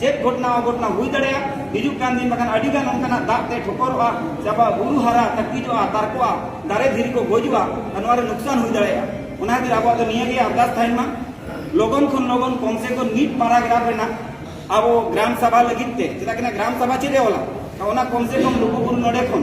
ᱪᱮᱫ ᱜᱷᱚᱴᱱᱟ ᱚᱜᱷᱚᱴᱱᱟ ᱦᱩᱭ ᱫᱟᱲᱮᱭᱟᱜ ᱦᱤᱡᱩᱜ ᱠᱟᱱ ᱫᱤᱱ ᱵᱟᱠᱷᱟᱱ ᱟᱹᱰᱤ ᱜᱟᱱ ᱚᱱᱠᱟᱱᱟᱜ ᱫᱟᱜ ᱛᱮ ᱴᱷᱚᱠᱚᱨᱚᱜᱼᱟ ᱥᱮ ᱟᱵᱚᱣᱟᱜ ᱵᱩᱨᱩ ᱦᱟᱨᱟ ᱛᱟᱹᱠᱤᱡᱚᱜᱼᱟ ᱛᱟᱨᱠᱚᱜᱼᱟ ᱫᱟᱨᱮ ᱫᱷᱤᱨᱤ ᱠᱚ ᱜᱚᱡᱚᱜᱼᱟ ᱟᱨ ᱱᱚᱣᱟ ᱨᱮ ᱱᱩᱠᱥᱟᱱ ᱦᱩᱭ ᱫᱟᱲᱮᱭᱟᱜᱼᱟ ᱚᱱᱟ ᱠᱷᱟᱹᱛᱤᱨ ᱟᱵᱚᱣᱟᱜ ᱫᱚ ᱱᱤᱭᱟᱹ ᱜᱮ ᱟᱨᱫᱟᱥ ᱛᱟᱦᱮᱱ ᱢᱟ ᱞᱚᱜᱚᱱ ᱠᱷᱚᱱ ᱞᱚᱜᱚᱱ ᱠᱚᱢ ᱥᱮ ᱠᱚᱢ ᱢᱤᱫ ᱯᱟᱨᱟᱜᱨᱟᱯᱷ ᱨᱮᱱᱟᱜ ᱟᱵᱚ ᱜᱨᱟᱢ ᱥᱟᱵᱷᱟ ᱞᱟᱹᱜᱤᱫ ᱛᱮ ᱪᱮᱫᱟᱜ ᱠᱤᱱᱟ ᱜᱨᱟᱢ ᱥᱟᱵᱷᱟ ᱪᱮᱫ ᱮ ᱚᱞᱟ ᱚᱱᱟ ᱠᱚᱢ ᱥᱮ ᱠᱚᱢ ᱞᱩᱜᱩᱵᱩᱨᱩ ᱱᱚᱰᱮ ᱠᱷᱚᱱ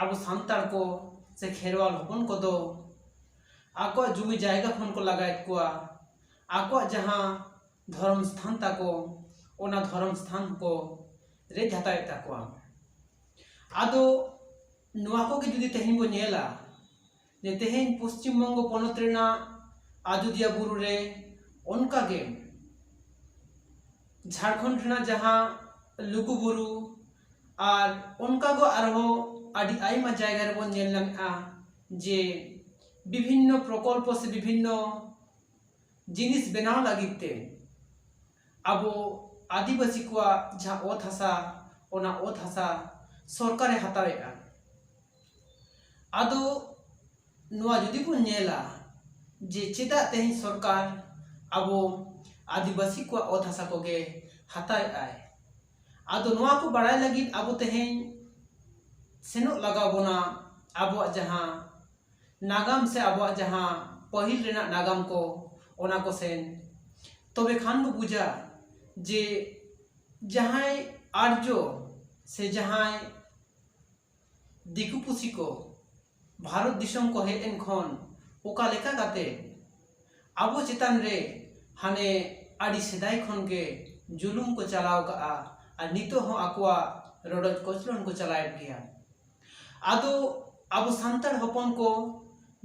ᱟᱵᱚ ᱥᱟᱱᱛᱟᱲ ᱠᱚ ᱥᱮ ᱠᱷᱮᱨᱣᱟᱞ ᱦᱚᱯᱚᱱ ᱠᱚᱫᱚ ᱟᱠᱚᱣᱟᱜ ᱡᱩᱢᱤ ᱡᱟᱭᱜᱟ ᱠᱷᱚᱱ ᱠᱚ ᱞᱟᱜᱟᱭᱮᱫ ᱠᱚᱣᱟ ᱟᱠᱚᱣᱟᱜ ᱡᱟᱦᱟᱸ ᱫᱷᱚᱨᱚᱢ ᱥᱛᱷᱟᱱ ᱛᱟᱠᱚ ᱚᱱᱟ ᱫᱷᱚᱨᱚᱢ ᱥᱛᱷᱟᱱ ᱠᱚ ᱨᱮᱡ ᱦᱟᱛᱟᱣᱮᱫ ᱛᱟᱠᱚᱣᱟ ᱟᱫᱚ ᱱᱚᱣᱟ ᱠᱚᱜᱮ ᱡᱩᱫᱤ ᱛᱮᱦᱮᱧ ᱵᱚᱱ ᱧᱮᱞᱟ ᱡᱮ ᱛᱮᱦᱮᱧ ᱯᱚᱥᱪᱤᱢ ᱵᱚᱝᱜᱚ ᱯᱚᱱᱚᱛ ᱨᱮᱱᱟᱜ ᱟᱡᱚᱫᱤᱭᱟ ᱵᱩᱨᱩ ᱨᱮ ᱚᱱᱠᱟ ᱜᱮ ᱡᱷᱟᱲᱠᱷᱚᱸᱰ ᱨᱮᱱᱟᱜ ᱡᱟᱦᱟᱸ ᱞᱩᱜᱩ ᱵᱩᱨᱩ ᱟᱨ ᱚᱱᱠᱟ ᱜᱮ ᱟᱨᱦᱚᱸ ᱟᱹᱰᱤ ᱟᱭᱢᱟ ᱡᱟᱭᱜᱟ ᱨᱮᱵᱚᱱ ᱧᱮᱞ ᱧᱟᱢᱮᱜᱼᱟ ᱡᱮ ᱵᱤᱵᱷᱤᱱᱱᱚ ᱯᱨᱚᱠᱚᱞᱯᱚ ᱥᱮ ᱵᱤᱵᱷᱤᱱᱱᱚ ᱡᱤᱱᱤᱥ ᱵᱮᱱᱟᱣ ᱞᱟᱹᱜᱤᱫ ᱛᱮ ᱟᱵᱚ ᱟᱹᱫᱤᱵᱟᱹᱥᱤ ᱠᱚᱣᱟᱜ ᱡᱟᱦᱟᱸ ᱚᱛ ᱦᱟᱥᱟ ᱚᱱᱟ ᱚᱛ ᱦᱟᱥᱟ ᱥᱚᱨᱠᱟᱨᱮ ᱦᱟᱛᱟᱣᱮᱜᱼᱟ ᱟᱫᱚ ᱱᱚᱣᱟ ᱡᱩᱫᱤ ᱵᱚᱱ ᱧᱮᱞᱟ ᱡᱮ ᱪᱮᱫᱟᱜ ᱛᱮᱦᱮᱧ ᱥᱚᱨᱠᱟᱨ ᱟᱵᱚ ᱟᱹᱫᱤᱵᱟᱹᱥᱤ ᱠᱚᱣᱟᱜ ᱚᱛ ᱦᱟᱥᱟ ᱠᱚᱜᱮ ᱦᱟᱛᱟᱣᱮᱫᱼᱟᱭ ᱟᱫᱚ ᱱᱚᱣᱟ ᱠᱚ ᱵᱟᱲᱟᱭ ᱞᱟᱹᱜᱤᱫ ᱟᱵᱚ ᱛᱮᱦᱮᱧ ᱥᱮᱱᱚᱜ ᱞᱟᱜᱟᱣ ᱵᱚᱱᱟ ᱟᱵᱚᱣᱟᱜ ᱡᱟᱦᱟᱸ ᱱᱟᱜᱟᱢ ᱥᱮ ᱟᱵᱚᱣᱟᱜ ᱡᱟᱦᱟᱸ ᱯᱟᱹᱦᱤᱞ ᱨᱮᱱᱟᱜ ᱱᱟᱜᱟᱢ ᱠᱚ ᱚᱱᱟ ᱠᱚ ᱥᱮᱱ ᱛᱚᱵᱮ ᱠᱷᱟᱱ ᱵᱚ ᱵᱩᱡᱟ ᱡᱮ ᱡᱟᱦᱟᱸᱭ ᱟᱨᱡᱚ ᱥᱮ ᱡᱟᱦᱟᱸᱭ ᱫᱤᱠᱩ ᱯᱩᱥᱤ ᱠᱚ ᱵᱷᱟᱨᱚᱛ ᱫᱤᱥᱚᱢ ᱠᱚ ᱦᱮᱡ ᱮᱱ ᱠᱷᱚᱱ ᱚᱠᱟ ᱞᱮᱠᱟ ᱠᱟᱛᱮ ᱟᱵᱚ ᱪᱮᱛᱟᱱ ᱨᱮ ᱦᱟᱱᱮ ᱟᱹᱰᱤ ᱥᱮᱫᱟᱭ ᱠᱷᱚᱱ ᱜᱮ ᱡᱩᱞᱩᱢ ᱠᱚ ᱪᱟᱞᱟᱣ ᱠᱟᱜᱼᱟ ᱟᱨ ᱱᱤᱛᱚᱜ ᱦᱚᱸ ᱟᱠᱚᱣᱟᱜ ᱨᱚᱰᱚᱡ ᱠᱚᱪᱞᱚᱱ ᱠᱚ ᱪᱟᱞᱟᱣᱮᱫ ᱜᱮᱭᱟ ᱟᱫᱚ ᱟᱵᱚ ᱥᱟᱱᱛᱟᱲ ᱦᱚᱯᱚᱱ ᱠᱚ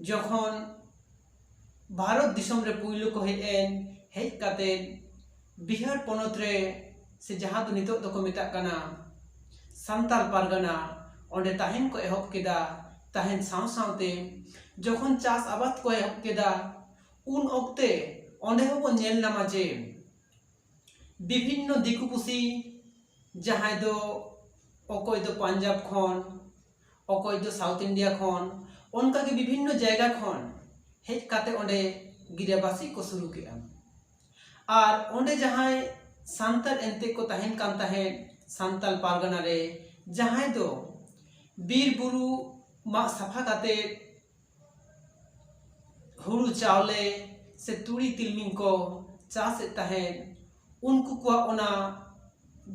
ᱡᱚᱠᱷᱚᱱ ᱵᱷᱟᱨᱚᱛ ᱫᱤᱥᱚᱢ ᱨᱮ ᱯᱩᱭᱞᱩ ᱠᱚ ᱦᱮᱡ ᱮᱱ ᱦᱮᱡ ᱠᱟᱛᱮ ᱵᱤᱦᱟᱨ ᱯᱚᱱᱚᱛ ᱨᱮ ᱥᱮ ᱡᱟᱦᱟᱸ ᱫᱚ ᱱᱤᱛᱚᱜ ᱫᱚᱠᱚ ᱢᱮᱛᱟᱜ ᱠᱟᱱᱟ ᱥᱟᱱᱛᱟᱲ ᱯᱟᱨᱜᱟᱱᱟ ᱚᱸᱰᱮ ᱛᱟᱦᱮᱱ ᱠᱚ ᱮᱦᱚᱵ ᱠᱮᱫᱟ ᱛᱟᱦᱮᱱ ᱥᱟᱶ ᱥᱟᱶᱛᱮ ᱡᱚᱠᱷᱚᱱ ᱪᱟᱥ ᱟᱵᱟᱫ ᱠᱚ ᱮᱦᱚᱵ ᱠᱮᱫᱟ ᱩᱱ ᱚᱠᱛᱮ ᱚᱸᱰᱮ ᱦᱚᱸᱠᱚ ᱧᱮᱞ ᱧᱟᱢᱟ ᱡᱮ ᱵᱤᱵᱷᱤᱱᱱᱚ ᱫᱤᱠᱩ ᱯᱩᱥᱤ ᱡᱟᱦᱟᱸᱭ ᱫᱚ ᱚᱠᱚᱭ ᱫᱚ ᱯᱟᱧᱡᱟᱵᱽ ᱠᱷᱚᱱ ᱚᱠᱚᱭ ᱫᱚ ᱥᱟᱣᱩᱛᱷ ᱤᱱᱰᱤᱭᱟ ᱠᱷᱚᱱ ᱚᱱᱠᱟ ᱜᱮ ᱵᱤᱵᱷᱤᱱᱱᱚ ᱡᱟᱭᱜᱟ ᱠᱷᱚᱱ ᱦᱮᱡ ᱠᱟᱛᱮ ᱚᱸᱰᱮ ᱜᱤᱨᱟᱹᱵᱟᱥᱤᱜ ᱠᱚ ᱥᱩᱨᱩ ᱠᱮᱫᱼᱟ ᱟᱨ ᱚᱸᱰᱮ ᱡᱟᱦᱟᱸᱭ ᱥᱟᱱᱛᱟᱲ ᱮᱱᱛᱮ ᱠᱚ ᱛᱟᱦᱮᱱ ᱠᱟᱱ ᱛᱟᱦᱮᱸᱫ ᱥᱟᱱᱛᱟᱲ ᱯᱟᱨᱜᱟᱱᱟ ᱨᱮ ᱡᱟᱦᱟᱸᱭ ᱫᱚ ᱵᱤᱨ ᱵᱩᱨᱩ ᱢᱟᱜ ᱥᱟᱯᱷᱟ ᱠᱟᱛᱮ ᱦᱩᱲᱩ ᱪᱟᱣᱞᱮ ᱥᱮ ᱛᱩᱲᱤ ᱛᱤᱞᱢᱤᱧ ᱠᱚ ᱪᱟᱥᱮᱫ ᱛᱟᱦᱮᱸᱫ ᱩᱱᱠᱩ ᱠᱚᱣᱟᱜ ᱚᱱᱟ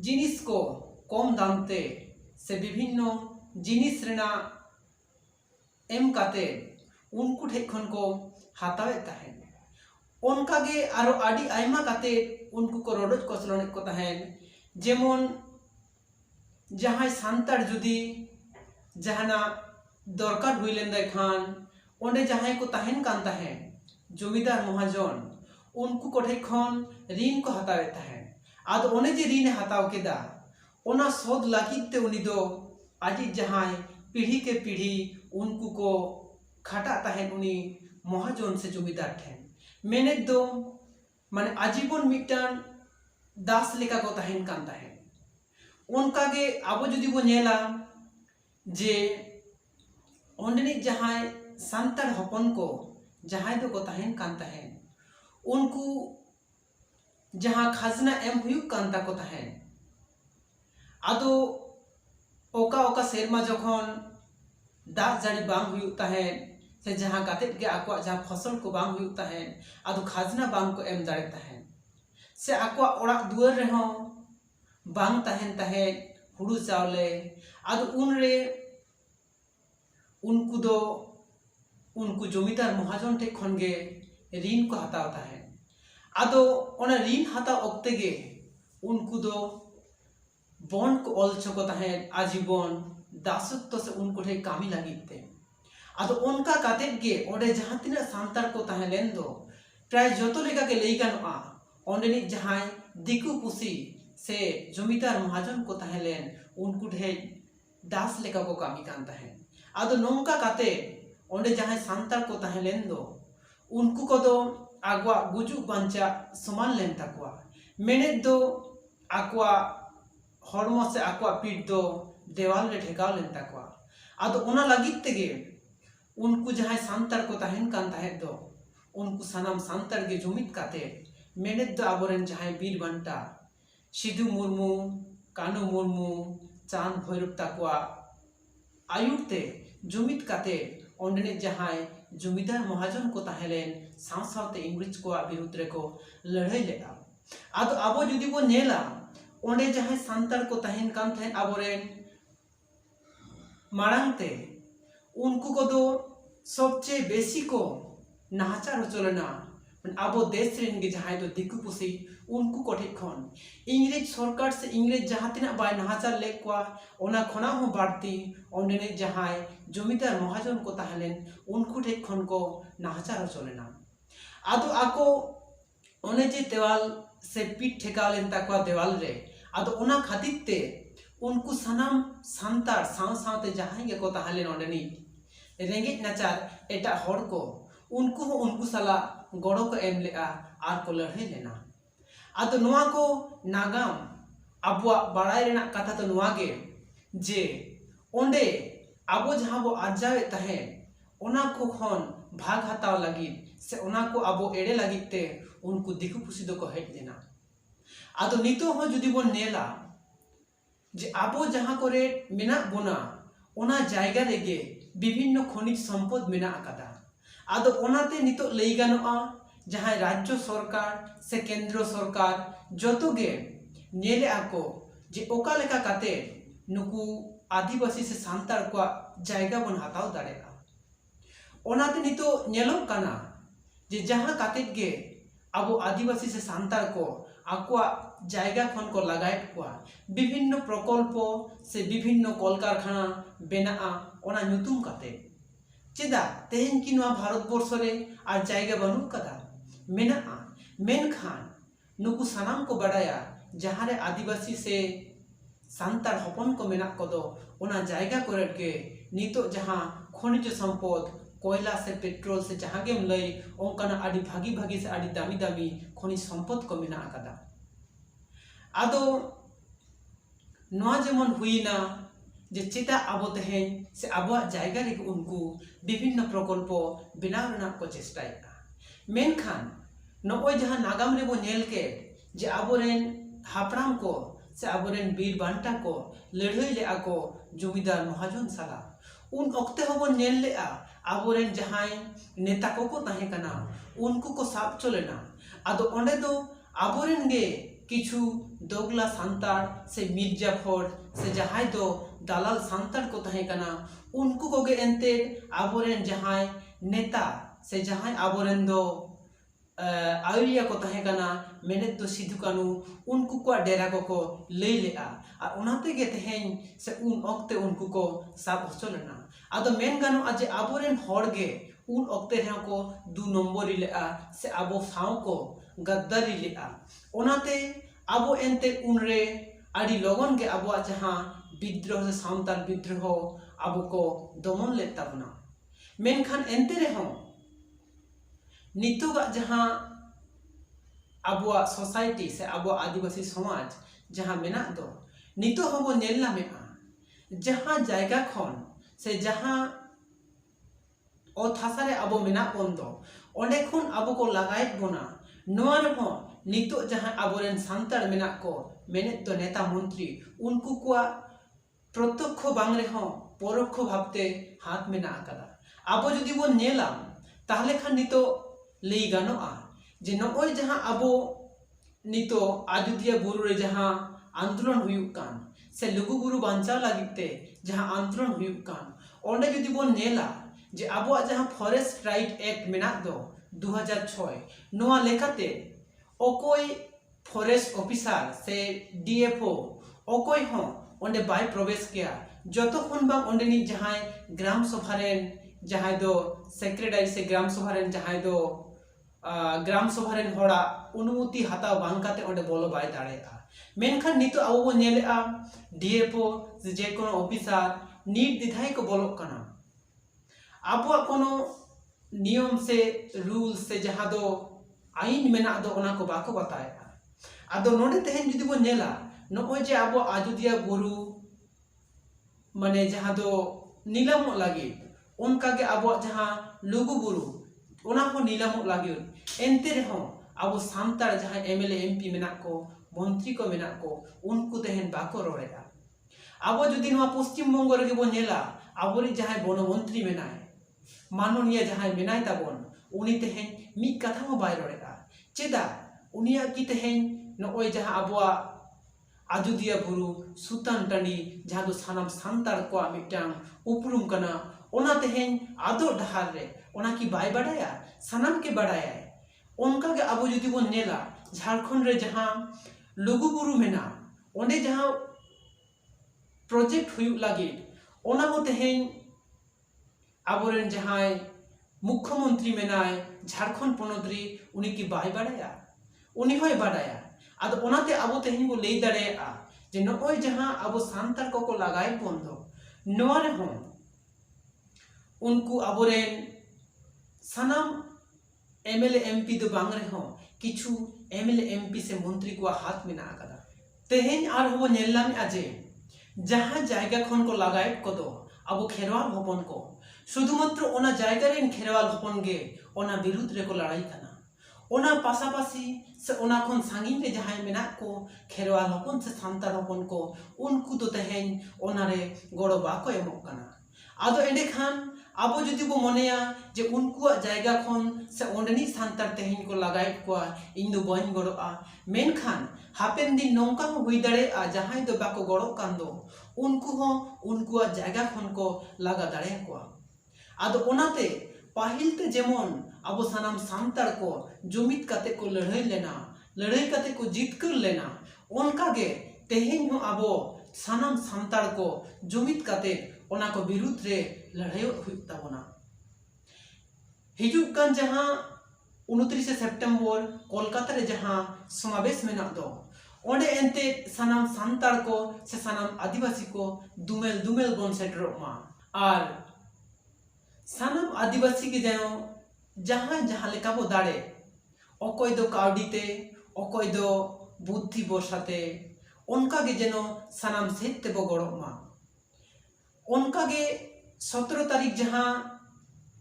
ᱡᱤᱱᱤᱥ ᱠᱚ ᱠᱚᱢ ᱫᱟᱢ ᱛᱮ ᱥᱮ ᱵᱤᱵᱷᱤᱱᱱᱚ ᱡᱤᱱᱤᱥ ᱨᱮᱱᱟᱜ ᱮᱢ ᱠᱟᱛᱮ ᱩᱱᱠᱩ ᱴᱷᱮᱱ ᱠᱷᱚᱱ ᱠᱚ ᱦᱟᱛᱟᱣᱮᱫ ᱛᱟᱦᱮᱸᱫ ᱚᱱᱠᱟ ᱜᱮ ᱟᱨᱚ ᱟᱹᱰᱤ ᱟᱭᱢᱟ ᱠᱟᱛᱮ ᱩᱱᱠᱩ ᱠᱚ ᱨᱚᱰᱚᱡ ᱠᱚᱪᱞᱚᱱᱮᱫ ᱠᱚ ᱛᱟᱦᱮᱸᱫ ᱡᱮᱢᱚᱱ ᱡᱟᱦᱟᱸᱭ ᱥᱟᱱᱛᱟᱲ ᱡᱩᱫᱤ ᱡᱟᱦᱟᱱᱟᱜ ᱫᱚᱨᱠᱟᱨ ᱦᱩᱭ ᱞᱮᱱ ᱛᱟᱭ ᱠᱷᱟᱱ ᱚᱸᱰᱮ ᱡᱟᱦᱟᱸᱭ ᱠᱚ ᱛᱟᱦᱮᱱ ᱠᱟᱱ ᱛᱟᱦᱮᱸᱫ ᱡᱚᱢᱤᱫᱟᱨ ᱢᱚᱦᱟᱡᱚᱱ ᱩᱱᱠᱩ ᱠᱚᱴᱷᱮᱡ ᱠᱷᱚᱱ ᱨᱤᱱ ᱠᱚ ᱦᱟᱛᱟᱣᱮᱫ ᱛᱟᱦᱮᱸᱫ ᱟᱫᱚ ᱚᱱᱮ ᱡᱮ ᱨᱤᱱ ᱮ ᱦᱟᱛᱟᱣ ᱠᱮᱫᱟ ᱚᱱᱟ ᱥᱳᱫᱷ ᱞᱟᱹᱜᱤᱫ ᱛᱮ ᱩᱱᱤ ᱫᱚ ᱟᱡᱤᱡ ᱡᱟᱦᱟᱸᱭ ᱯᱤᱲᱦᱤ ᱠᱮ ᱯᱤᱲᱦᱤ ᱩᱱᱠᱩ ᱠᱚ ᱠᱷᱟᱴᱟᱜ ᱛᱟᱦᱮᱸᱫ ᱩᱱᱤ ᱢᱚᱦᱟᱡᱚᱱ ᱥᱮ ᱡᱚᱢᱤᱫᱟᱨ ᱴᱷᱮᱱ ᱢᱮᱱᱮᱫ ᱫᱚ ᱢᱟᱱᱮ ᱟᱡᱤᱵᱚᱱ ᱢᱤᱫᱴᱟᱝ ᱫᱟᱥ ᱞᱮᱠᱟ ᱠᱚ ᱛᱟᱦᱮᱱ ᱠᱟᱱ ᱛᱟᱦᱮᱸᱫ ᱚᱱᱠᱟ ᱜᱮ ᱟᱵᱚ ᱡᱩᱫᱤ ᱵᱚ ᱧᱮᱞᱟ ᱡᱮ ᱚᱸᱰᱮᱱᱤᱡ ᱡᱟᱦᱟᱸᱭ ᱥᱟᱱᱛᱟᱲ ᱦᱚᱯᱚᱱ ᱠᱚ ᱡᱟᱦᱟᱸᱭ ᱫᱚᱠᱚ ᱛᱟᱦᱮᱱ ᱠᱟᱱ ᱛᱟᱦᱮᱸᱫ ᱩᱱᱠᱩ ᱡᱟᱦᱟᱸ ᱠᱷᱟᱡᱽᱱᱟ ᱮᱢ ᱦᱩᱭᱩᱜ ᱠᱟᱱ ᱛᱟᱠᱚ ᱛᱟᱦᱮᱸᱫ ᱟᱫᱚ ᱚᱠᱟ ᱚᱠᱟ ᱥᱮᱨᱢᱟ ᱡᱚᱠᱷᱚᱱ ᱫᱟᱜ ᱡᱟᱹᱲᱤ ᱵᱟᱝ ᱦᱩᱭᱩᱜ ᱛᱟᱦᱮᱸᱫ ᱥᱮ ᱡᱟᱦᱟᱸ ᱠᱟᱛᱮ ᱜᱮ ᱟᱠᱚᱣᱟᱜ ᱡᱟᱦᱟᱸ ᱯᱷᱚᱥᱚᱞ ᱠᱚ ᱵᱟᱝ ᱦᱩᱭᱩᱜ ᱛᱟᱦᱮᱸᱫ ᱟᱫᱚ ᱠᱷᱟᱡᱽᱱᱟ ᱵᱟᱝ ᱠᱚ ᱮᱢ ᱫᱟᱲᱮᱜ ᱛᱟᱦᱮᱸᱫ ᱥᱮ ᱟᱠᱚᱣᱟᱜ ᱚᱲᱟᱜ ᱫᱩᱣᱟᱹᱨ ᱨᱮᱦᱚᱸ ᱵᱟᱝ ᱛᱟᱦᱮᱱ ᱛᱟᱦᱮᱸᱫ ᱦᱩᱲᱩ ᱪᱟᱣᱞᱮ ᱟᱫᱚ ᱩᱱᱨᱮ ᱩᱱᱠᱩ ᱫᱚ ᱩᱱᱠᱩ ᱡᱚᱢᱤᱫᱟᱨ ᱢᱚᱦᱟᱡᱚᱱ ᱴᱷᱮᱱ ᱠᱷᱚᱱ ᱜᱮ ᱨᱤᱱ ᱠᱚ ᱦᱟᱛᱟᱣ ᱛᱟᱦᱮᱸᱫ ᱟᱫᱚ ᱚᱱᱟ ᱨᱤᱱ ᱦᱟᱛᱟᱣ ᱚᱠᱛᱮ ᱜᱮ ᱩᱱᱠᱩ ᱫᱚ ᱵᱚᱱᱰ ᱠᱚ ᱚᱞ ᱦᱚᱪᱚ ᱠᱚ ᱛᱟᱦᱮᱸᱫ ᱟᱡᱤᱵᱚᱱ ᱫᱟᱥᱚᱛᱛᱚ ᱥᱮ ᱩᱱᱠᱩ ᱴᱷᱮᱱ ᱠᱟᱹᱢᱤ ᱞᱟᱹᱜᱤᱫ ᱛᱮ ᱟᱫᱚ ᱚᱱᱠᱟ ᱠᱟᱛᱮ ᱜᱮ ᱚᱸᱰᱮ ᱡᱟᱦᱟᱸ ᱛᱤᱱᱟᱹᱜ ᱥᱟᱱᱛᱟᱲ ᱠᱚ ᱛᱟᱦᱮᱸ ᱞᱮᱱ ᱫᱚ ᱯᱨᱟᱭ ᱡᱚᱛᱚ ᱞᱮᱠᱟ ᱜᱮ ᱞᱟᱹᱭ ᱜᱟᱱᱚᱜᱼᱟ ᱚᱸᱰᱮᱱᱤᱡ ᱡᱟᱦᱟᱸᱭ ᱫᱤᱠᱩ ᱯᱩᱥᱤ ᱥᱮ ᱡᱚᱢᱤᱫᱟᱨ ᱢᱚᱦᱟᱡᱚᱱ ᱠᱚ ᱛᱟᱦᱮᱸ ᱞᱮᱱ ᱩᱱᱠᱩ ᱴᱷᱮᱱ ᱫᱟᱥ ᱞᱮᱠᱟ ᱠᱚ ᱠᱟᱹᱢᱤ ᱠᱟᱱ ᱛᱟᱦᱮᱸᱫ᱾ ᱟᱫᱚ ᱱᱚᱝᱠᱟ ᱠᱟᱛᱮ ᱚᱸᱰᱮ ᱡᱟᱦᱟᱸᱭ ᱥᱟᱱᱛᱟᱲ ᱠᱚ ᱛᱟᱦᱮᱸ ᱞᱮᱱ ᱫᱚ ᱩᱱᱠᱩ ᱠᱚᱫᱚ ᱟᱠᱚᱣᱟᱜ ᱜᱩᱡᱩᱜ ᱵᱟᱧᱪᱟᱜ ᱥᱚᱢᱟᱱ ᱞᱮᱱ ᱛᱟᱠᱚᱣᱟ᱾ ᱢᱮᱱᱮᱫ ᱫᱚ ᱟᱠᱚᱣᱟᱜ ᱦᱚᱲᱢᱚ ᱥᱮ ᱟᱠᱚᱣᱟᱜ ᱯᱤᱴ ᱫᱚ ᱫᱮᱣᱟᱞ ᱨᱮ ᱴᱷᱮᱠᱟᱣ ᱞᱮᱱ ᱛᱟᱠᱚᱣᱟ᱾ ᱟᱫᱚ ᱚᱱᱟ ᱞᱟᱹᱜᱤᱫ ᱛᱮᱜᱮ ᱩᱱᱠᱩ ᱡᱟᱦᱟᱸᱭ ᱥᱟᱱᱛᱟᱲ ᱠᱚ ᱛᱟᱦᱮᱸᱱ ᱠᱟᱱ ᱛᱟᱦᱮᱸᱫ ᱫᱚ ᱩᱱᱠᱩ ᱥᱟᱱᱟᱢ ᱥᱟᱱᱛᱟᱲ ᱜᱮ ᱡᱩᱢᱤᱫ ᱠᱟᱛᱮ ᱢᱮᱱᱮᱫ ᱫᱚ ᱟᱵᱚ ᱨᱮᱱ ᱡᱟᱦᱟᱸᱭ ᱵᱤᱨ ᱵᱟᱱᱴᱟ ᱥᱤᱫᱩ ᱢᱩᱨᱢᱩ ᱠᱟᱹᱱᱩ ᱢᱩᱨᱢᱩ ᱪᱟᱸᱫᱽ ᱵᱷᱳᱭᱨᱳᱵᱽ ᱛᱟᱠᱚᱣᱟᱜ ᱟᱹᱭᱩᱨ ᱛᱮ ᱡᱩᱢᱤᱫ ᱠᱟᱛᱮ ᱚᱸᱰᱮᱱᱤᱡ ᱡᱟᱦᱟᱸᱭ ᱡᱚᱢᱤᱫᱟᱨ ᱢᱚᱦᱟᱡᱚᱱ ᱠᱚ ᱛᱟᱦᱮᱸ ᱞᱮᱱ ᱥᱟᱶ ᱥᱟᱶᱛᱮ ᱤᱝᱨᱮᱡᱽ ᱠᱚᱣᱟᱜ ᱵᱤᱨᱩᱫᱷ ᱨᱮᱠᱚ ᱞᱟᱹᱲᱦᱟᱹᱭ ᱞᱮᱫᱼᱟ ᱟᱫᱚ ᱟᱵᱚ ᱡᱩᱫᱤ ᱵᱚᱱ ᱧᱮᱞᱟ ᱚᱸᱰᱮ ᱡᱟᱦᱟᱸᱭ ᱥᱟᱱᱛᱟᱲ ᱠᱚ ᱛᱟᱦᱮᱱ ᱠᱟᱱ ᱛᱟᱦᱮᱸᱫ ᱟᱵᱚᱨᱮᱱ ᱢᱟᱲᱟᱝ ᱛᱮ ᱩᱱᱠᱩ ᱠᱚᱫᱚ ᱥᱚᱵᱪᱮᱭᱮ ᱵᱮᱥᱤ ᱠᱚ ᱱᱟᱦᱟᱪᱟᱨ ᱦᱚᱪᱚ ᱞᱮᱱᱟ ᱟᱵᱚ ᱫᱮᱥ ᱨᱮᱱ ᱜᱮ ᱡᱟᱦᱟᱸᱭ ᱫᱚ ᱫᱤᱠᱩ ᱯᱩᱥᱤ ᱩᱱᱠᱩ ᱠᱚ ᱴᱷᱮᱱ ᱠᱷᱚᱱ ᱤᱝᱨᱮᱡᱽ ᱥᱚᱨᱠᱟᱨ ᱥᱮ ᱤᱝᱨᱮᱡᱽ ᱡᱟᱦᱟᱸ ᱛᱤᱱᱟᱹᱜ ᱵᱟᱭ ᱱᱟᱦᱟᱪᱟᱨ ᱞᱮᱫ ᱠᱚᱣᱟ ᱚᱱᱟ ᱠᱷᱚᱱᱟᱜ ᱦᱚᱸ ᱵᱟᱹᱲᱛᱤ ᱚᱸᱰᱮᱱᱤᱡ ᱡᱟᱦᱟᱸᱭ ᱡᱚᱢᱤᱫᱟᱨ ᱢᱚᱦᱟᱡᱚᱱ ᱠᱚ ᱛᱟᱦᱮᱸ ᱞᱮᱱ ᱩᱱᱠᱩ ᱴᱷᱮᱱ ᱠᱷᱚᱱ ᱠᱚ ᱱᱟᱦᱟᱪᱟᱨ ᱦᱚᱪᱚ ᱞᱮᱱᱟ ᱟᱫᱚ ᱟᱠᱚ ᱚᱱᱮ ᱡᱮ ᱫᱮᱣᱟᱞ ᱥᱮ ᱯᱤᱴ ᱴᱷᱮᱠᱟᱣ ᱞᱮᱱ ᱛᱟᱠᱚᱣᱟ ᱫᱮᱣᱟᱞ ᱨᱮ ᱟᱫᱚ ᱚᱱᱟ ᱠᱷᱟᱹᱛᱤᱨ ᱛᱮ ᱩᱱᱠᱩ ᱥᱟᱱᱟᱢ ᱥᱟᱱᱛᱟᱲ ᱥᱟᱶ ᱥᱟᱶᱛᱮ ᱡᱟᱦᱟᱸᱭ ᱜᱮᱠᱚ ᱛᱟᱦᱮᱸ ᱞᱮᱱ ᱚᱸᱰᱮᱱᱤᱡ ᱨᱮᱸᱜᱮᱡ ᱱᱟᱪᱟᱨ ᱮᱴᱟᱜ ᱦᱚᱲ ᱠᱚ ᱩᱱᱠᱩ ᱦᱚᱸ ᱩᱱᱠᱩ ᱥᱟᱞᱟᱜ ᱜᱚᱲᱚ ᱠᱚ ᱮᱢ ᱞᱮᱫᱼᱟ ᱟᱨ ᱠᱚ ᱞᱟᱹᱲᱦᱟᱹᱭ ᱞᱮᱱᱟ ᱟᱫᱚ ᱱᱚᱣᱟ ᱠᱚ ᱱᱟᱜᱟᱢ ᱟᱵᱚᱣᱟᱜ ᱵᱟᱲᱟᱭ ᱨᱮᱱᱟᱜ ᱠᱟᱛᱷᱟ ᱫᱚ ᱱᱚᱣᱟ ᱜᱮ ᱡᱮ ᱚᱸᱰᱮ ᱟᱵᱚ ᱡᱟᱦᱟᱸ ᱵᱚ ᱟᱨᱡᱟᱣᱮᱫ ᱛᱟᱦᱮᱸᱫ ᱚᱱᱟ ᱠᱚ ᱠᱷᱚᱱ ᱵᱷᱟᱜᱽ ᱦᱟᱛᱟᱣ ᱞᱟᱹᱜᱤᱫ ᱥᱮ ᱚᱱᱟ ᱠᱚ ᱟᱵᱚ ᱮᱲᱮ ᱞᱟᱹᱜᱤᱫ ᱛᱮ ᱩᱱᱠᱩ ᱫᱤᱠᱩ ᱯᱩᱥᱤ ᱫᱚᱠᱚ ᱦᱮᱡ ᱞᱮᱱᱟ ᱟᱫᱚ ᱱᱤᱛᱚᱜ ᱦᱚᱸ ᱡᱩᱫᱤ ᱵᱚᱱ ᱧᱮᱞᱟ ᱡᱮ ᱟᱵᱚ ᱡᱟᱦᱟᱸ ᱠᱚᱨᱮ ᱢᱮᱱᱟᱜ ᱵᱚᱱᱟ ᱚᱱᱟ ᱡᱟᱭᱜᱟ ᱨᱮᱜᱮ ᱵᱤᱵᱷᱤᱱᱱᱚ ᱠᱷᱚᱱᱤᱡᱽ ᱥᱚᱢᱯᱚᱫ ᱢᱮᱱᱟᱜ ᱟᱠᱟᱫᱟ ᱟᱫᱚ ᱚᱱᱟᱛᱮ ᱱᱤᱛᱚᱜ ᱞᱟᱹᱭ ᱜᱟᱱᱚᱜᱼᱟ ᱡᱟᱦᱟᱸᱭ ᱨᱟᱡᱽᱡᱚ ᱥᱚᱨᱠᱟᱨ ᱥᱮ ᱠᱮᱱᱫᱨᱚ ᱥᱚᱨᱠᱟᱨ ᱡᱚᱛᱚ ᱜᱮ ᱧᱮᱞᱮᱜᱼᱟ ᱠᱚ ᱡᱮ ᱚᱠᱟ ᱞᱮᱠᱟ ᱠᱟᱛᱮ ᱱᱩᱠᱩ ᱟᱹᱫᱤᱵᱟᱹᱥᱤ ᱥᱮ ᱥᱟᱱᱛᱟᱲ ᱠᱚᱣᱟᱜ ᱡᱟᱭᱜᱟ ᱵᱚᱱ ᱦᱟᱛᱟᱣ ᱫᱟᱲᱮᱭᱟᱜᱼᱟ ᱚᱱᱟᱛᱮ ᱱᱤᱛᱚᱜ ᱧᱮᱞᱚᱜ ᱠᱟᱱᱟ ᱡᱮ ᱡᱟᱦᱟᱸ ᱠᱟᱛᱮ ᱜᱮ ᱟᱵᱚ ᱟᱹᱫᱤᱵᱟᱹᱥᱤ ᱥᱮ ᱥᱟᱱᱛᱟᱲ ᱠᱚ ᱟᱠᱚᱣᱟᱜ ᱡᱟᱭᱜᱟ ᱠᱷᱚᱱ ᱠᱚ ᱞᱟᱜᱟᱭᱮᱫ ᱠᱚᱣᱟ ᱵᱤᱵᱷᱤᱱᱱᱚ ᱯᱨᱚᱠᱚᱞᱯᱚ ᱥᱮ ᱵᱤᱵᱷᱤᱱᱱᱚ ᱠᱚᱞᱠᱟᱨᱠᱷᱟᱱᱟ ᱵᱮᱱᱟᱜᱼᱟ ᱚᱱᱟ ᱧᱩᱛᱩᱢ ᱠᱟᱛᱮ ᱪᱮᱫᱟᱜ ᱛᱮᱦᱮᱧ ᱠᱤ ᱱᱚᱣᱟ ᱵᱷᱟᱨᱚᱛ ᱵᱚᱨᱥᱚ ᱨᱮ ᱟᱨ ᱡᱟᱭᱜᱟ ᱵᱟᱹᱱᱩᱜ ᱠᱟᱫᱟ ᱢᱮᱱᱟᱜᱼᱟ ᱢᱮᱱᱠᱷᱟᱱ ᱱᱩᱠᱩ ᱥᱟᱱᱟᱢ ᱠᱚ ᱵᱟᱰᱟᱭᱟ ᱡᱟᱦᱟᱸ ᱨᱮ ᱟᱹᱫᱤᱵᱟᱹᱥᱤ ᱥᱮ ᱥᱟᱱᱛᱟᱲ ᱦᱚᱯᱚᱱ ᱠᱚ ᱢᱮᱱᱟᱜ ᱠᱚᱫᱚ ᱚᱱᱟ ᱡᱟᱭᱜᱟ ᱠᱚᱨᱮ ᱜᱮ ᱱᱤᱛᱚᱜ ᱡᱟᱦᱟᱸ ᱠᱷᱚᱱᱤᱡᱽ ᱥᱚᱢᱯᱚᱫ ᱠᱚᱭᱞᱟ ᱥᱮ ᱯᱮᱴᱨᱳᱞ ᱥᱮ ᱡᱟᱦᱟᱸ ᱜᱮᱢ ᱞᱟᱹᱭ ᱚᱱᱠᱟᱱᱟᱜ ᱟᱹᱰᱤ ᱵᱷᱟᱹᱜᱤ ᱵᱷᱟᱹᱜᱤ ᱥᱮ ᱟᱹᱰᱤ ᱫᱟᱹᱢᱤ ᱫᱟᱹᱢᱤ ᱠᱷᱚᱱᱤᱡᱽ ᱥᱚᱢᱯᱚᱫ ᱠᱚ ᱢᱮᱱᱟᱜ ᱠᱟᱫᱟ ᱟᱫᱚ ᱱᱚᱣᱟ ᱡᱮᱢᱚᱱ ᱦᱩᱭᱮᱱᱟ ᱡᱮ ᱪᱮᱫᱟᱜ ᱟᱵᱚ ᱛᱮᱦᱮᱧ ᱥᱮ ᱟᱵᱚᱣᱟᱜ ᱡᱟᱭᱜᱟ ᱨᱮᱜᱮ ᱩᱱᱠᱩ ᱵᱤᱵᱷᱤᱱᱱᱚ ᱯᱨᱚᱠᱚᱞᱯᱚ ᱵᱮᱱᱟᱣ ᱨᱮᱱᱟᱜ ᱠᱚ ᱪᱮᱥᱴᱟᱭᱮᱫᱼᱟ ᱢᱮᱱᱠᱷᱟᱱ ᱱᱚᱜᱼᱚᱭ ᱡᱟᱦᱟᱸ ᱱᱟᱜᱟᱢ ᱨᱮᱵᱚ ᱧᱮᱞ ᱠᱮᱫ ᱡᱮ ᱟᱵᱚ ᱨᱮᱱ ᱦᱟᱯᱲᱟᱢ ᱠᱚ ᱥᱮ ᱟᱵᱚ ᱨᱮᱱ ᱵᱤᱨ ᱵᱟᱱᱴᱟ ᱠᱚ ᱞᱟᱹᱲᱦᱟᱹᱭ ᱞᱮᱫᱼᱟ ᱠᱚ ᱡᱚᱢᱤᱫᱟᱨ ᱢᱚᱦᱟᱡᱚᱱ ᱥᱟᱞᱟᱜ ᱩᱱ ᱚᱠᱛᱮ ᱦᱚᱸᱵᱚ ᱧᱮᱞ ᱞᱮᱫᱼᱟ ᱟᱵᱚ ᱨᱮᱱ ᱡᱟᱦᱟᱸᱭ ᱱᱮᱛᱟ ᱠᱚᱠᱚ ᱛᱟᱦᱮᱸ ᱠᱟᱱᱟ ᱩᱱᱠᱩ ᱠᱚ ᱥᱟᱵ ᱦᱚᱪᱚ ᱞᱮᱱᱟ ᱟᱫᱚ ᱚᱸᱰᱮ ᱫᱚ ᱟᱵᱚᱨᱮᱱ ᱜᱮ ᱠᱤᱪᱷᱩ ᱫᱚᱜᱽᱞᱟ ᱥᱟᱱᱛᱟᱲ ᱥᱮ ᱢᱤᱨᱡᱟᱯᱷᱚᱨ ᱥᱮ ᱡᱟᱦᱟᱸᱭ ᱫᱚ ᱫᱟᱞᱟᱞ ᱥᱟᱱᱛᱟᱲ ᱠᱚ ᱛᱟᱦᱮᱸ ᱠᱟᱱᱟ ᱩᱱᱠᱩ ᱠᱚᱜᱮ ᱮᱱᱛᱮ ᱟᱵᱚᱨᱮᱱ ᱡᱟᱦᱟᱸᱭ ᱱᱮᱛᱟ ᱥᱮ ᱡᱟᱦᱟᱸᱭ ᱟᱵᱚᱨᱮᱱ ᱫᱚ ᱟᱹᱭᱩᱨᱤᱭᱟᱹ ᱠᱚ ᱛᱟᱦᱮᱸ ᱠᱟᱱᱟ ᱢᱮᱱᱮᱛ ᱫᱚ ᱥᱤᱫᱩ ᱠᱟᱹᱱᱩ ᱩᱱᱠᱩ ᱠᱚᱣᱟᱜ ᱰᱮᱨᱟ ᱠᱚᱠᱚ ᱞᱟᱹᱭ ᱞᱮᱜᱼᱟ ᱟᱨ ᱚᱱᱟ ᱛᱮᱜᱮ ᱛᱮᱦᱮᱧ ᱥᱮ ᱩᱱ ᱚᱠᱛᱮ ᱩᱱᱠᱩ ᱠᱚ ᱥᱟᱵ ᱦᱚᱪᱚ ᱞᱮᱱᱟ ᱟᱫᱚ ᱢᱮᱱ ᱜᱟᱱᱚᱜᱼᱟ ᱡᱮ ᱟᱵᱚ ᱨᱮᱱ ᱦᱚᱲ ᱜᱮ ᱩᱱ ᱚᱠᱛᱮ ᱨᱮᱦᱚᱸ ᱠᱚ ᱫᱩ ᱱᱚᱢᱵᱚᱨᱤ ᱞᱮᱫᱼᱟ ᱥᱮ ᱟᱵᱚ ᱥᱟᱶ ᱠᱚ ᱜᱟᱫᱽᱫᱟᱨᱤ ᱞᱮᱫᱼᱟ ᱚᱱᱟᱛᱮ ᱟᱵᱚ ᱮᱱᱛᱮ ᱩᱱ ᱨᱮ ᱟᱹᱰᱤ ᱞᱚᱜᱚᱱ ᱜᱮ ᱟᱵᱚᱣᱟᱜ ᱡᱟᱦᱟᱸ ᱵᱤᱫᱽᱫᱨᱳᱦᱚ ᱥᱮ ᱥᱟᱱᱛᱟᱲ ᱵᱤᱫᱽᱫᱨᱳᱦᱚ ᱟᱵᱚ ᱠᱚ ᱫᱚᱢᱚᱱ ᱞᱮᱫ ᱛᱟᱵᱚᱱᱟ ᱢᱮᱱᱠᱷᱟᱱ ᱮᱱᱛᱮ ᱨᱮᱦᱚᱸ ᱱᱤᱛᱚᱜᱟᱜ ᱡᱟᱦᱟᱸ ᱟᱵᱚᱣᱟᱜ ᱥᱳᱥᱟᱭᱴᱤ ᱥᱮ ᱟᱵᱚᱣᱟᱜ ᱟᱹᱫᱤᱵᱟᱹᱥᱤ ᱥᱚᱢᱟᱡᱽ ᱡᱟᱦᱟᱸ ᱢᱮᱱᱟᱜ ᱫᱚ ᱱᱤᱛᱚᱜ ᱦᱚᱸᱵᱚ ᱧᱮᱞ ᱧᱟᱢᱮᱫᱼᱟ ᱡᱟᱦᱟᱸ ᱡᱟᱭᱜᱟ ᱠᱷᱚᱱ ᱥᱮ ᱡᱟᱦᱟᱸ ᱚᱛ ᱦᱟᱥᱟ ᱨᱮ ᱟᱵᱚ ᱢᱮᱱᱟᱜ ᱵᱚᱱ ᱫᱚ ᱚᱸᱰᱮ ᱠᱷᱚᱱ ᱟᱵᱚ ᱠᱚ ᱞᱟᱜᱟᱭᱮᱫ ᱵᱚᱱᱟ ᱱᱚᱣᱟ ᱨᱮᱦᱚᱸ ᱱᱤᱛᱚᱜ ᱡᱟᱦᱟᱸ ᱟᱵᱚᱨᱮᱱ ᱥᱟᱱᱛᱟᱲ ᱢᱮᱱᱟᱜ ᱠᱚ ᱢᱮᱱᱮᱫ ᱫᱚ ᱱᱮᱛᱟ ᱢᱚᱱᱛᱨᱤ ᱩᱱᱠᱩ ᱠᱚᱣᱟᱜ ᱯᱨᱚᱛᱚᱠᱠᱷᱚ ᱵᱟᱝ ᱨᱮᱦᱚᱸ ᱯᱚᱨᱚᱠᱠᱷᱚ ᱵᱷᱟᱵᱛᱮ ᱦᱟᱛ ᱢᱮᱱᱟᱜ ᱟᱠᱟᱫᱟ ᱟᱵᱚ ᱡᱩᱫᱤ ᱵᱚᱱ ᱧᱮᱞᱟ ᱛᱟᱦᱞᱮ ᱠᱷᱟᱱ ᱱᱤᱛᱚᱜ ᱞᱟᱹᱭ ᱜᱟᱱᱚᱜᱼᱟ ᱡᱮ ᱱᱚᱜᱼᱚᱭ ᱡᱟᱦᱟᱸ ᱟᱵᱚ ᱱᱤᱛᱚᱜ ᱟᱡᱚᱫᱤᱭᱟᱹ ᱵᱩᱨᱩ ᱨᱮ ᱡᱟᱦᱟᱸ ᱟᱱᱫᱳᱞᱚᱱ ᱦᱩᱭᱩᱜ ᱠᱟᱱ ᱥᱮ ᱞᱩᱜᱩ ᱵᱩᱨᱩ ᱵᱟᱧᱪᱟᱣ ᱞᱟᱹᱜᱤᱫ ᱛᱮ ᱡᱟᱦᱟᱸ ᱟᱱᱫᱳᱞᱚᱱ ᱦᱩᱭᱩᱜ ᱠᱟᱱ ᱚᱸᱰᱮ ᱡᱩᱫᱤ ᱵᱚᱱ ᱧᱮᱞᱟ ᱡᱮ ᱟᱵᱚᱣᱟᱜ ᱡᱟᱦᱟᱸ ᱯᱷᱚᱨᱮᱥᱴ ᱨᱟᱭᱤᱴ ᱮᱠᱴ ᱢᱮᱱᱟᱜ ᱫᱚ ᱫᱩ ᱦᱟᱡᱟᱨ ᱪᱷᱚᱭ ᱱᱚᱣᱟ ᱞᱮᱠᱟᱛᱮ ᱚᱠᱚᱭ ᱯᱷᱚᱨᱮᱥᱴ ᱚᱯᱷᱤᱥᱟᱨ ᱥᱮ ᱰᱤ ᱮᱯᱷ ᱳ ᱚᱠᱚᱭ ᱦᱚᱸ ᱚᱸᱰᱮ ᱵᱟᱭ ᱯᱨᱚᱵᱮᱥ ᱠᱮᱭᱟ ᱡᱚᱛᱚ ᱠᱷᱚᱱ ᱵᱟᱝ ᱚᱸᱰᱮᱱᱤᱡ ᱡᱟᱦᱟᱸᱭ ᱜᱨᱟᱢ ᱥᱚᱵᱷᱟ ᱨᱮᱱ ᱡᱟᱦᱟᱸᱭ ᱫᱚ ᱥᱮᱠᱨᱮᱴᱟᱨᱤ ᱥᱮ ᱜᱨᱟᱢ ᱥᱚᱵᱷᱟ ᱨᱮᱱ ᱡᱟᱦᱟᱸᱭ ᱫᱚ ᱜᱨᱟᱢ ᱥᱚᱵᱷᱟ ᱨᱮᱱ ᱦᱚᱲᱟᱜ ᱚᱱᱩᱢᱚᱛᱤ ᱦᱟᱛᱟᱣ ᱵᱟᱝ ᱠᱟᱛᱮ ᱚᱸᱰᱮ ᱵᱚᱞᱚ ᱵᱟᱭ ᱫᱟᱲᱮᱭᱟᱜᱼᱟ ᱢᱮᱱᱠᱷᱟᱱ ᱱᱤᱛᱚᱜ ᱟᱵᱚ ᱵᱚᱱ ᱧᱮᱞᱮᱜᱼᱟ ᱰᱤᱮᱯᱳ ᱥᱮ ᱡᱮ ᱠᱳᱱᱳ ᱚᱯᱷᱤᱥᱟᱨ ᱱᱤᱴ ᱫᱤᱫᱷᱟᱭ ᱠᱚ ᱵᱚᱞᱚᱜ ᱠᱟᱱᱟ ᱟᱵᱚᱣᱟᱜ ᱠᱳᱱᱳ ᱱᱤᱭᱚᱢ ᱥᱮ ᱨᱩᱞ ᱥᱮ ᱡᱟᱦᱟᱸ ᱫᱚ ᱟᱭᱤᱱ ᱢᱮᱱᱟᱜ ᱫᱚ ᱚᱱᱟ ᱠᱚ ᱵᱟᱠᱚ ᱵᱟᱛᱟᱣᱮᱜᱼᱟ ᱟᱫᱚ ᱱᱚᱰᱮ ᱛᱮᱦᱮᱧ ᱡᱩᱫᱤ ᱵᱚᱱ ᱧᱮᱞᱟ ᱱᱚᱜᱼᱚᱭ ᱡᱮ ᱟᱵᱚ ᱟᱡᱚᱫᱤᱭᱟᱹ ᱵᱩᱨᱩ ᱢᱟᱱᱮ ᱡᱟᱦᱟᱸ ᱫᱚ ᱱᱤᱞᱟᱢᱚᱜ ᱞᱟᱹᱜᱤᱫ ᱚᱱᱠᱟ ᱜᱮ ᱟᱵᱚᱣᱟᱜ ᱡᱟᱦᱟᱸ ᱞᱩᱜᱩ ᱵᱩᱨᱩ ᱚᱱᱟ ᱦᱚᱸ ᱱᱤᱞᱟᱢᱚᱜ ᱞᱟᱹᱜᱤᱫ ᱮᱱᱛᱮ ᱨᱮᱦᱚᱸ ᱟᱵᱚ ᱥᱟᱱᱛᱟᱲ ᱡᱟᱦᱟᱸᱭ M L A M P ᱢᱮᱱᱟᱜ ᱠᱚ ᱢᱚᱱᱛᱨᱤ ᱠᱚ ᱢᱮᱱᱟᱜ ᱠᱚ ᱩᱱᱠᱩ ᱛᱮᱦᱮᱧ ᱵᱟᱠᱚ ᱨᱚᱲᱮᱫᱼᱟ ᱟᱵᱚ ᱡᱩᱫᱤ ᱱᱚᱣᱟ ᱯᱚᱥᱪᱤᱢ ᱵᱚᱝᱜᱚ ᱨᱮᱜᱮ ᱵᱚᱱ ᱧᱮᱞᱟ ᱟᱵᱚᱨᱤᱡ ᱡᱟᱦᱟᱸᱭ ᱵᱚᱱ ᱢᱚᱱᱛᱨᱤ ᱢᱮᱱᱟᱭ ᱢᱟᱱᱚᱱᱤᱭᱟ ᱡᱟᱦᱟᱸᱭ ᱢᱮᱱᱟᱭ ᱛᱟᱵᱚᱱ ᱩᱱᱤ ᱛᱮᱦᱮᱧ ᱢᱤᱫ ᱠᱟᱛᱷᱟ ᱦᱚᱸ ᱵᱟᱭ ᱨᱚᱲᱮᱫᱼᱟ ᱪᱮᱫᱟᱜ ᱩᱱᱤᱭᱟᱜ ᱠᱤ ᱛᱮᱦᱮᱧ ᱱᱚᱜᱼᱚᱭ ᱡᱟᱦᱟᱸ ᱟᱵᱚᱣᱟᱜ ᱟᱡᱚᱫᱤᱭᱟᱹ ᱵᱩᱨᱩ ᱥᱩᱛᱟᱱ ᱴᱟᱺᱰᱤ ᱡᱟᱦᱟᱸ ᱫᱚ ᱥᱟᱱᱟᱢ ᱥᱟᱱᱛᱟᱲ ᱠᱚᱣᱟᱜ ᱢᱤᱫᱴᱟᱝ ᱩᱯᱨᱩᱢ ᱠᱟᱱᱟ ᱚᱱᱟ ᱛᱮᱦᱮᱧ ᱟᱫᱚᱜ ᱰᱟᱦᱟᱨ ᱨᱮ ᱚᱱᱟ ᱠᱤ ᱵᱟᱭ ᱵᱟᱰᱟᱭᱟ ᱥᱟᱱᱟᱢ ᱜᱮ ᱵᱟᱰᱟᱭᱟᱭ ᱚᱱᱠᱟ ᱜᱮ ᱟᱵᱚ ᱡᱩᱫᱤ ᱵᱚᱱ ᱧᱮᱞᱟ ᱡᱷᱟᱲᱠᱷᱚᱸᱰ ᱨᱮ ᱡᱟᱦᱟᱸ ᱞᱩᱜᱩ ᱵᱩᱨᱩ ᱢᱮᱱᱟᱜᱼᱟ ᱚᱸᱰᱮ ᱡᱟᱦᱟᱸ ᱯᱨᱚᱡᱮᱠᱴ ᱦᱩᱭᱩᱜ ᱞᱟᱹᱜᱤᱫ ᱚᱱᱟ ᱦᱚᱸ ᱛᱮᱦᱮᱧ ᱟᱵᱚᱨᱮᱱ ᱡᱟᱦᱟᱸᱭ ᱢᱩᱠᱷᱭᱚ ᱢᱚᱱᱛᱨᱤ ᱢᱮᱱᱟᱭ ᱡᱷᱟᱲᱠᱷᱚᱸᱰ ᱯᱚᱱᱚᱛ ᱨᱮ ᱩᱱᱤ ᱠᱤ ᱵᱟᱭ ᱵᱟᱲᱟᱭᱟ ᱩᱱᱤ ᱦᱚᱸᱭ ᱵᱟᱰᱟᱭᱟ ᱟᱫᱚ ᱚᱱᱟᱛᱮ ᱟᱵᱚ ᱛᱮᱦᱮᱧ ᱵᱚ ᱞᱟᱹᱭ ᱫᱟᱲᱮᱭᱟᱜᱼᱟ ᱡᱮ ᱱᱚᱜᱼᱚᱭ ᱡᱟᱦᱟᱸ ᱟᱵᱚ ᱥᱟᱱᱛᱟᱲ ᱠᱚᱠᱚ ᱞᱟᱜᱟᱭ ᱵᱚᱱ ᱫᱚ ᱱᱚᱣᱟ ᱨᱮᱦᱚᱸ ᱩᱱᱠᱩ ᱟᱵᱚᱨᱮᱱ ᱥᱟᱱᱟᱢ ᱮᱢᱮᱞᱮ ᱮᱢᱯᱤ ᱫᱚ ᱵᱟᱝ ᱨᱮᱦᱚᱸ ᱠᱤᱪᱷᱩ ᱮᱢᱮᱞᱮ ᱮᱢᱯᱤ ᱥᱮ ᱢᱚᱱᱛᱨᱤ ᱠᱚᱣᱟᱜ ᱦᱟᱛ ᱢᱮᱱᱟᱜ ᱟᱠᱟᱫᱟ᱾ ᱛᱮᱦᱮᱧ ᱟᱨ ᱦᱚᱸ ᱵᱚ ᱧᱮᱞ ᱧᱟᱢᱮᱜᱼᱟ ᱡᱮ ᱡᱟᱦᱟᱸ ᱡᱟᱭᱜᱟ ᱠᱷᱚᱱ ᱠᱚ ᱞᱟᱜᱟᱭᱮᱫ ᱠᱚᱫᱚ ᱟᱵᱚ ᱠᱷᱮᱨᱣᱟᱞ ᱦᱚᱯᱚᱱ ᱠᱚ ᱥᱩᱫᱷᱩ ᱢᱟᱛᱨᱚ ᱚᱱᱟ ᱡᱟᱭᱜᱟ ᱨᱮᱱ ᱠᱷᱮᱨᱣᱟᱞ ᱦᱚᱯᱚᱱ ᱜᱮ ᱚᱱᱟ ᱵᱤᱨᱩᱫᱷ ᱨᱮᱠᱚ ᱞᱟᱲᱟᱭ ᱠᱟᱱᱟ᱾ ᱚᱱᱟ ᱯᱟᱥᱟ ᱯᱟᱥᱤ ᱥᱮ ᱚᱱᱟ ᱠᱷᱚᱱ ᱥᱟᱺᱜᱤᱧ ᱨᱮ ᱡᱟᱦᱟᱸᱭ ᱢᱮᱱᱟᱜ ᱠᱚ ᱠᱷᱮᱨᱣᱟᱞ ᱦᱚᱯᱚᱱ ᱥᱮ ᱥᱟᱱᱛᱟᱲ ᱦᱚᱯᱚᱱ ᱠᱚ ᱩᱱᱠᱩ ᱫᱚ ᱛᱮᱦᱮᱧ ᱚᱱᱟ ᱨᱮ ᱜᱚᱲᱚ ᱵᱟᱠᱚ ᱮᱢᱚᱜ ᱠᱟᱱᱟ᱾ ᱟᱫᱚ ᱮᱸᱰᱮ ᱠᱷᱟᱱ ᱟᱵᱚ ᱡᱩᱫᱤ ᱵᱚ ᱢᱚᱱᱮᱭᱟ ᱡᱮ ᱩᱱᱠᱩᱣᱟᱜ ᱡᱟᱭᱜᱟ ᱠᱷᱚᱱ ᱥᱮ ᱚᱸᱰᱮᱱᱤᱡ ᱥᱟᱱᱛᱟᱲ ᱛᱮᱦᱮᱧ ᱠᱚ ᱞᱟᱜᱟᱭᱮᱫ ᱠᱚᱣᱟ ᱤᱧ ᱫᱚ ᱵᱟᱹᱧ ᱜᱚᱲᱚᱜᱼᱟ ᱢᱮᱱᱠᱷᱟᱱ ᱦᱟᱯᱮᱱ ᱫᱤᱱ ᱱᱚᱝᱠᱟ ᱦᱚᱸ ᱦᱩᱭ ᱫᱟᱲᱮᱭᱟᱜᱼᱟ ᱡᱟᱦᱟᱸᱭ ᱫᱚ ᱵᱟᱠᱚ ᱜᱚᱲᱚᱜ ᱠᱟᱱ ᱫᱚ ᱩᱱᱠᱩ ᱦᱚᱸ ᱩᱱᱠᱩᱣᱟᱜ ᱡᱟᱭᱜᱟ ᱠᱷᱚᱱ ᱠᱚ ᱞᱟᱜᱟ ᱫᱟᱲᱮᱭᱟᱠᱚᱣᱟ ᱟᱫᱚ ᱚᱱᱟᱛᱮ ᱯᱟᱹᱦᱤᱞ ᱛᱮ ᱡᱮᱢᱚᱱ ᱟᱵᱚ ᱥᱟᱱᱟᱢ ᱥᱟᱱᱛᱟᱲ ᱠᱚ ᱡᱩᱢᱤᱫ ᱠᱟᱛᱮ ᱠᱚ ᱞᱟᱹᱲᱦᱟᱹᱭ ᱞᱮᱱᱟ ᱞᱟᱹᱲᱦᱟᱹᱭ ᱠᱟᱛᱮ ᱠᱚ ᱡᱤᱛᱠᱟᱹᱨ ᱞᱮᱱᱟ ᱚᱱᱠᱟ ᱜᱮ ᱛᱮᱦᱮᱧ ᱦᱚᱸ ᱟᱵᱚ ᱥᱟᱱᱟᱢ ᱥᱟᱱᱛᱟᱲ ᱠᱚ ᱡᱩᱢᱤᱫ ᱠᱟᱛᱮ ᱚᱱᱟ ᱠᱚ ᱵᱤᱨᱩᱫᱷ ᱨᱮ ᱞᱟᱹᱲᱦᱟᱹᱭᱚᱜ ᱦᱩᱭᱩᱜ ᱛᱟᱵᱚᱱᱟ ᱦᱤᱡᱩᱜ ᱠᱟᱱ ᱡᱟᱦᱟᱸ ᱩᱱᱛᱨᱤᱥᱮ ᱥᱮᱯᱴᱮᱢᱵᱚᱨ ᱠᱚᱞᱠᱟᱛᱟ ᱨᱮ ᱡᱟᱦᱟᱸ ᱥᱚᱢᱟᱵᱮᱥ ᱢᱮᱱᱟᱜ ᱫᱚ ᱚᱸᱰᱮ ᱮᱱᱛᱮ ᱥᱟᱱᱟᱢ ᱥᱟᱱᱛᱟᱲ ᱠᱚ ᱥᱮ ᱥᱟᱱᱟᱢ ᱟᱹᱫᱤᱵᱟᱹᱥᱤ ᱠᱚ ᱫᱩᱢᱮᱞ ᱫᱩᱢᱮᱞ ᱵᱚᱱ ᱥᱮᱴᱮᱨᱚᱜ ᱢᱟ ᱟᱨ ᱥᱟᱱᱟᱢ ᱟᱹᱫᱤᱵᱟᱹᱥᱤ ᱜᱮ ᱡᱮᱱᱚ ᱡᱟᱦᱟᱸᱭ ᱡᱟᱦᱟᱸ ᱞᱮᱠᱟ ᱵᱚ ᱫᱟᱲᱮᱜ, ᱚᱠᱚᱭ ᱫᱚ ᱠᱟᱹᱣᱰᱤ ᱛᱮ, ᱚᱠᱚᱭ ᱫᱚ ᱵᱩᱫᱽᱫᱷᱤ ᱵᱚᱨᱥᱟ ᱛᱮ, ᱚᱱᱠᱟ ᱜᱮ ᱡᱮᱱᱚ ᱥᱟᱱᱟᱢ ᱥᱮᱫ ᱛᱮᱵᱚ ᱜᱚᱲᱚᱜ ᱢᱟ᱾ ᱚᱱᱠᱟ ᱜᱮ ᱥᱚᱛᱨᱚ ᱛᱟᱹᱨᱤᱠᱷ ᱡᱟᱦᱟᱸ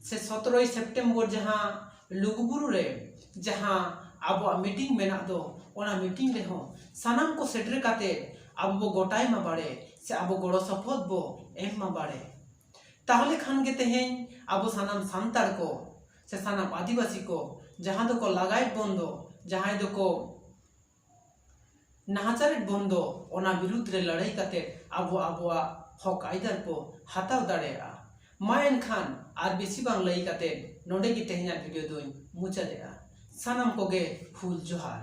ᱥᱮ ᱥᱚᱛᱨᱚᱭ ᱥᱮᱯᱴᱮᱢᱵᱚᱨ ᱡᱟᱦᱟᱸ ᱞᱩᱜᱩᱵᱩᱨᱩ ᱨᱮ ᱡᱟᱦᱟᱸ ᱟᱵᱚᱣᱟᱜ ᱢᱤᱴᱤᱝ ᱢᱮᱱᱟᱜ ᱫᱚ ᱚᱱᱟ ᱢᱤᱴᱤᱝ ᱨᱮᱦᱚᱸ ᱥᱟᱱᱟᱢ ᱠᱚ ᱥᱮᱴᱮᱨ ᱠᱟᱛᱮ ᱟᱵᱚ ᱵᱚ ᱜᱚᱴᱟᱭ ᱢᱟ ᱵᱟᱲᱮ ᱥᱮ ᱟᱵᱚ ᱜᱚᱲᱚ ᱥᱚᱯᱚᱦᱚᱫ ᱵᱚ ᱮᱢ ᱢᱟ ᱵᱟᱲᱮ᱾ ᱛᱟᱦᱚᱞᱮ ᱠᱷᱟᱱ ᱜᱮ ᱛᱮᱦᱮᱧ ᱟᱵᱚ ᱥᱟᱱᱟᱢ ᱥᱟᱱᱛᱟᱲ ᱠᱚ ᱥᱮ ᱥᱟᱱᱟᱢ ᱟᱹᱫᱤᱵᱟᱹᱥᱤ ᱠᱚ ᱡᱟᱦᱟᱸ ᱫᱚᱠᱚ ᱞᱟᱜᱟᱭᱮᱫ ᱵᱚᱱ ᱫᱚ ᱡᱟᱦᱟᱸᱭ ᱫᱚᱠᱚ ᱱᱟᱦᱟᱪᱟᱨᱮᱫ ᱵᱚᱱ ᱫᱚ ᱚᱱᱟ ᱵᱤᱨᱩᱫᱽ ᱨᱮ ᱞᱟᱹᱲᱦᱟᱹᱭ ᱠᱟᱛᱮ ᱟᱵᱚ ᱟᱵᱚᱣᱟᱜ ᱦᱚᱠ ᱟᱹᱭᱫᱟᱹᱨ ᱠᱚ ᱦᱟᱛᱟᱣ ᱫᱟᱲᱮᱭᱟᱜᱼᱟ ᱢᱟ ᱮᱱᱠᱷᱟᱱ ᱟᱨ ᱵᱮᱥᱤ ᱵᱟᱝ ᱞᱟᱹᱭ ᱠᱟᱛᱮ ᱱᱚᱰᱮ ᱜᱮ ᱛᱮᱦᱮᱧᱟᱜ ᱵᱷᱤᱰᱤᱭᱳ ᱫᱚᱧ ᱢᱩᱪᱟᱹᱫᱮᱜᱼᱟ ᱥᱟᱱᱟᱢ ᱠᱚᱜᱮ ᱦᱩᱞ ᱡᱚᱦᱟᱨ